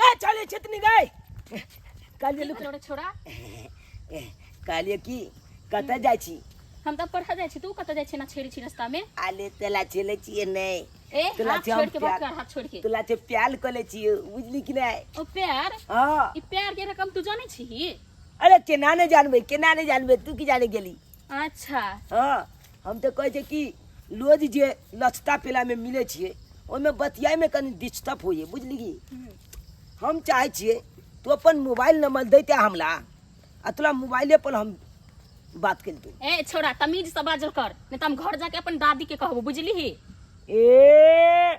कहे चले छतनी गए कालिए लुक छोड़ा छोड़ा कालिए की कत जाय छी हम त पढ़ा जाय छी तू कत जाय छी ना छेड़ी छी रास्ता में आले तेला चले छी नै ए तो हाथ लाठी हम छोड़ के बात प्यार- कर हाथ छोड़ के तोला ते प्याल कले छी बुझली कि नै ओ प्यार हां ई प्यार के रकम तू जाने छी अरे केना नै जानबे केना नै जानबे तू की जाने गेली अच्छा हां हम तऽ कहै छै कि रोज जे नचता पेलामे मिलै छियै ओहिमे बतियाइमे कनि डिस्टर्ब होइए बुझलिही हम चाहै छियै तू अपन मोबाइल नंबर दैते हमरा आ तोरा मोबाइले पर हम बात करितू ए छोरा तमीज से बाजल कर नहीं तो हम घर जाके अपन दादी के कहबो बुझली ए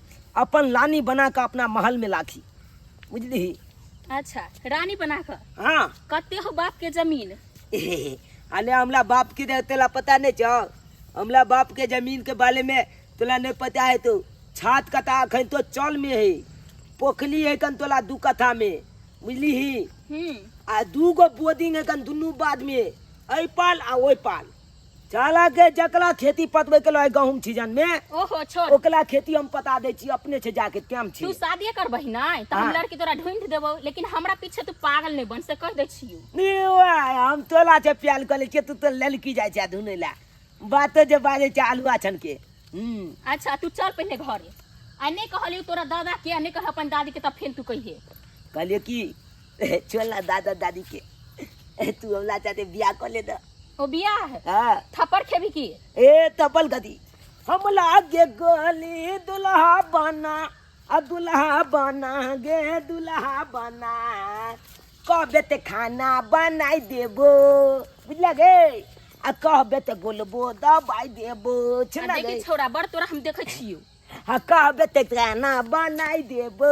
अपन लानी बना कऽ अपना महल में लाखी बुझली अच्छा रानी बना कऽ हाँ कते हो बाप के जमीन अने हमला बाप की दे तोला पता नहीं छो हमला बाप के जमीन के बारे में तोला नहीं पता है तो छात कथा अखन तो चल में है पोखली है कन तोला दू कथा में बुझली ही हम्म आ दू गो बोर्डिंग है कन दुनू बाद में ऐ पाल आ ओइ पाल चाला के जकला खेती पतबे के लय गहूम सीजन में ओहो छोड़ ओकला खेती हम पता दै छी अपने से जाके टाइम छी तू शादी करबही नहीं तो हम हाँ। लड़की तोरा ढूंढ देबो लेकिन हमरा पीछे तू पागल नहीं बन से कह दे छियो निवा, हम तोला से प्याल कर ले छियै, तू तो ललकी जाइ छै धुनै ला बातो जे बाजै छै आलू आछन के हम्म अच्छा तू चल पहले घरे आ नहीं कहलियो तोरा दादा के आ नहीं कह अपन दादी के तब फिर तू कहिए कहलियै कि छोड़ ना दादा दादी के ए, तू हमला चाहते बियाह कर ले दा ओ बिया है हाँ थप्पड़ खेबी की ए तपल गदी हम लागे गली दुल्हा बना आ दुल्हा बना गे दुल्हा बना कहबे ते खाना बनाई देबो बुझला गे आ कहबे ते बोलबो दबाई देबो आ छुना देखी गे छोरा बड़ तोरा हम देखै छियो आ कहबे ते खाना बनाई देबो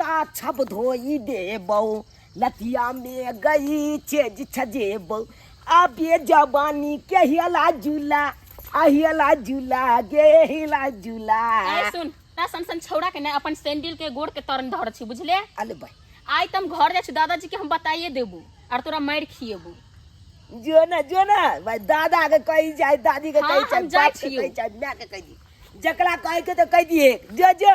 ताछब धोई देबौ लतिया में गई चेज छजेबौ आबे जवानी के हिला जुला आ हिला जुला गे हिला जुला ए सुन ता सन सन छौड़ा के ना अपन सैंडल के गोड़ के तरन धर छी बुझले अल भाई आइ तम घर जाइ छी दादाजी के हम बताइए देबू आर तोरा मारि खिएबू जो ना जो ना भाई दादा के कही जाए दादी के हाँ, कही हम जाए जाए बाप के छियौ। कही जाए माय के कही दी जकरा कहे के तो कह दिए जो जो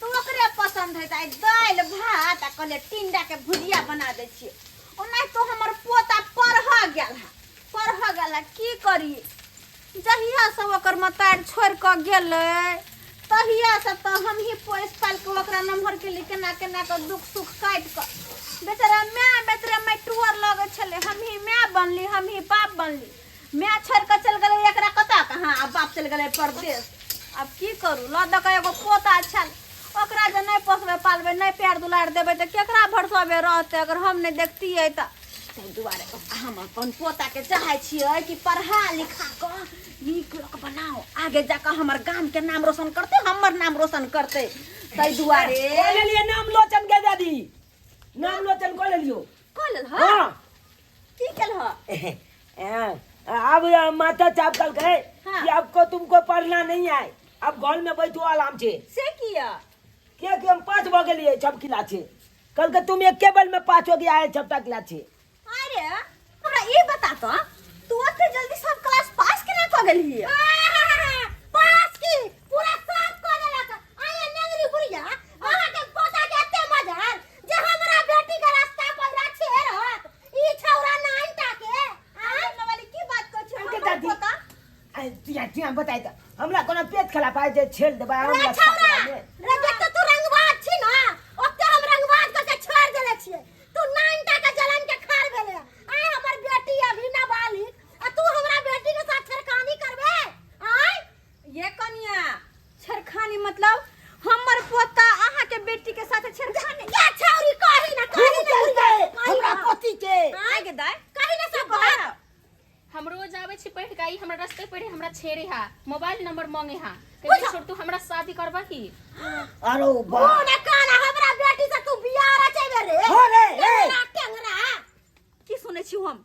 तू ओकरे पसंद है ताई दाल भात आ कहले टिंडा के भुजिया बना दे छिए ओना तो हमर पोता पढ़ गेल है पढ़ गेल है की करी जहिया से ओकर मतार छोड़ के गेल तहिया से तो हम ही पोस पाल के ओकरा नमहर के लिए केना केना के दुख सुख काट के बेचारा मैं बेचारा मैं टूअर लगे छले हम ही मैं बनली हम ही बाप बनली मैं छोड़ के चल गए एकरा कता कहाँ अब बाप चल गए परदेश अब की करू ल दऽ के एगो पोता अच्छा ओकरा जे नहि पोसबै पालबै नहि प्यार दुलार देबै तऽ केकरा भरसबे रहतै अगर हम नहि देखतियै तऽ ताहि दुआरे हम अपन पोताके चाहै छियै कि पढ़ा लिखा कऽ नीक लोक बनाओ आगे जाकऽ हमर गामके नाम रोशन करतै हमर नाम रोशन करतै ताहि दुआरे कऽ लेलियै नाम लोचन के दादी नाम लोचन कऽ लेलियो कऽ लेल हँ की कल हो हाँ, अब अ, माता चाप कल गए हाँ। कि आपको तुमको पढ़ना नहीं है अब घर में बैठो आराम से से किया क्या कि हम पाँच बो गलिए छप किला छे कल के तुम एक केबल में पाँच हो गया है छपटा किला छे अरे हमरा ई बता तो तू ओते जल्दी सब क्लास पास केना क गेली हिय पास की पूरा साफ क देलक आया नगरी बुढ़िया अहाँ के पोता के एते मजा जे हमरा बेटी के रास्ता पौरा छेड़ होत ई छौरा नाइन टाके आय वाली की बात कर छी हमके दादी आ तिया तिया बताइ त हमरा कोनो पेट खला पाए जे छेड़ देबा रे हमरा छौरा रे जत्ते तू रंगबाज छी ना ओत्ते हम रंगबाज क के छोड़ देले छिए तू नाइन टाके जलन के खार भेले आय हमर बेटी अभी ना बालिक आ तू हमरा बेटी के साथ छेड़खानी करबे आय ये कनिया छेड़खानी मतलब हमर पोता अहाँ के बेटी के साथ छेड़खानी या छौरी कही ना कही ना कही ना, कही हमरा ना। पति के आय गे दाय कही ना सब बात हम रोज आवे छी पढ़ के आई हमरा रास्ते पढ़े हमरा छेड़े हा मोबाइल नंबर मांगे हा कहे छोड़ तू हमरा शादी करबा ही अरे ओ बा ना काना हमरा बेटी से तू बियाह रचेबे रे हो रे, रे। टेंगरा टेंगरा की सुनै छी हम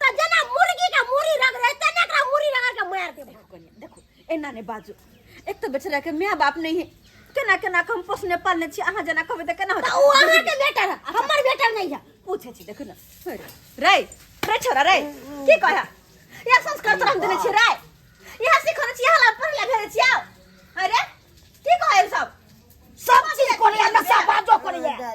त जेना मुर्गी के मुड़ी रगड़े तेना एकरा मुड़ी रगड़ के मार देबो देखो कनिया, देखो एना ने बाजू एक तो बेचारा के माय बाप नहीं है केना केना के हम पोसने पालने छी अहाँ जेना कहबै तऽ केना त होतै उ अहाँ के बेटा रह हमर बेटा नहीं है पूछे छी देखो ना रे रे छोरा रे की कहै या संस्कार तोरा हम देने छी रे इहा सिखने छी हला पर ले भेज छिया अरे की कहै सब सब चीज कोनी हमरा सब बाजो कोनी है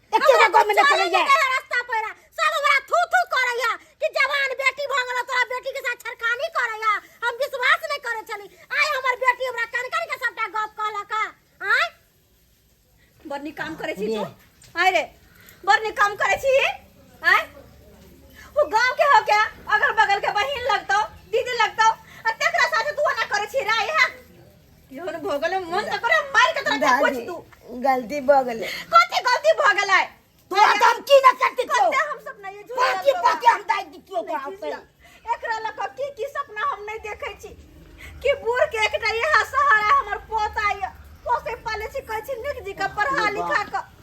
एके गो गाँव में ना चले जाए रास्ता पर आ। सब हमरा थू थू करैया कि जवान बेटी भऽ गेल तोरा बेटी के साथ छरकानी करैया हम विश्वास नहीं करे छली आय हमर बेटी हमरा कन कन के सबटा गप कहलक हँ। आय बड़ नीक काम करे छी तू आय रे बड़ नीक काम करे छी आय वो गांव के हो क्या अगल बगल के बहिन लगतो दीदी लगतो आ तेकरा साथे तू ना करे छी राय है केहन भऽ गेलै मन तऽ करे मार के तोरा के कुछ तू गलती भऽ गेलै कथी गलती भऽ गेलै तोरा तऽ हम की न करती क्यों कते हम सब नहीं झूठ पाकी पाकी हम दाइ दी क्यों को आते एकरा लऽ कऽ की की सपना हम नहीं देखै छी कि बूढ़ के एकटा इहा सहारा हमर पोता ये पोसे पाले छी कहै छी निक जी के पढ़ा लिखा के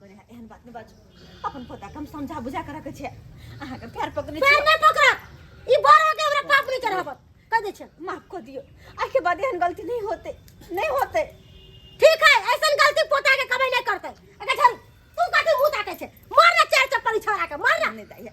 एहन बात नहि बाजू अपन पोता कम समझा बुझा कर रखे छै अहाँ के पैर पकड़ने पैर नहि पकड़ा ई बड़ हो के हमरा पाप नहीं करब कह दे छै माफ कर दियो आज के बाद एहन गलती नहीं होते नहीं होते ठीक है ऐसन गलती पोता के कभी नहीं करते अगर चल तू कथी मुंह ताके छै मार ना चार चप्पल छोरा के मार ना नहीं दाइया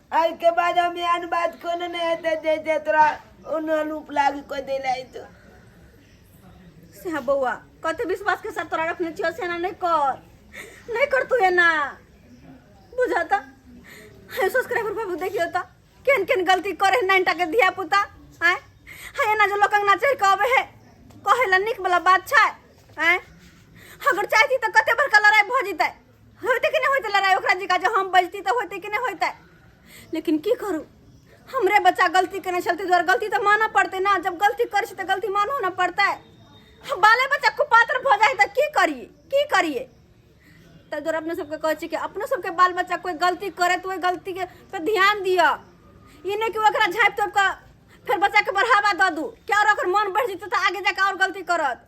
एहि के बाद हम एहन बात कोनो नहि हेतै जे जे तोरा उन्हन उपलाग कऽ देले है तो से हाँ बौआ कते विश्वास के साथ तोरा रखने छियो से एना नहीं कर नहीं कर तू एना बुझा ता हाय सब्सक्राइबर बाबू देखियो ता केन केन गलती करे नाइन टा के धिया पुता आय हाय एना जो लोग अंगना चढ़ के आवे है कहे ला निक वाला बात छै आय अगर चाहती तो कते बड़का लड़ाई भ जितै होते कि नहीं होते लड़ाई ओकरा जी का जो हम बजती तो होते कि नहीं होते लेकिन की करू हमरे बच्चा गलती करने चलते द्वारा गलती तो माना पड़ते ना जब गलती करे छी तो गलती मानो ना पड़ता है हम बाले बच्चा कुपात्र भऽ जाए तो की करिए की करिए तो द्वारा अपने सबके कहै छी कि अपनो सबके बाल बच्चा कोई गलती करे तो ओहि गलती के पे ध्यान दिअ ई नहि कि ओकरा झाँपि तोपि कऽ फेर बच्चाके बढ़ावा दऽ दू क्या ओकर मन बढ़ि जेतै तऽ आगे जाके आओर गलती करत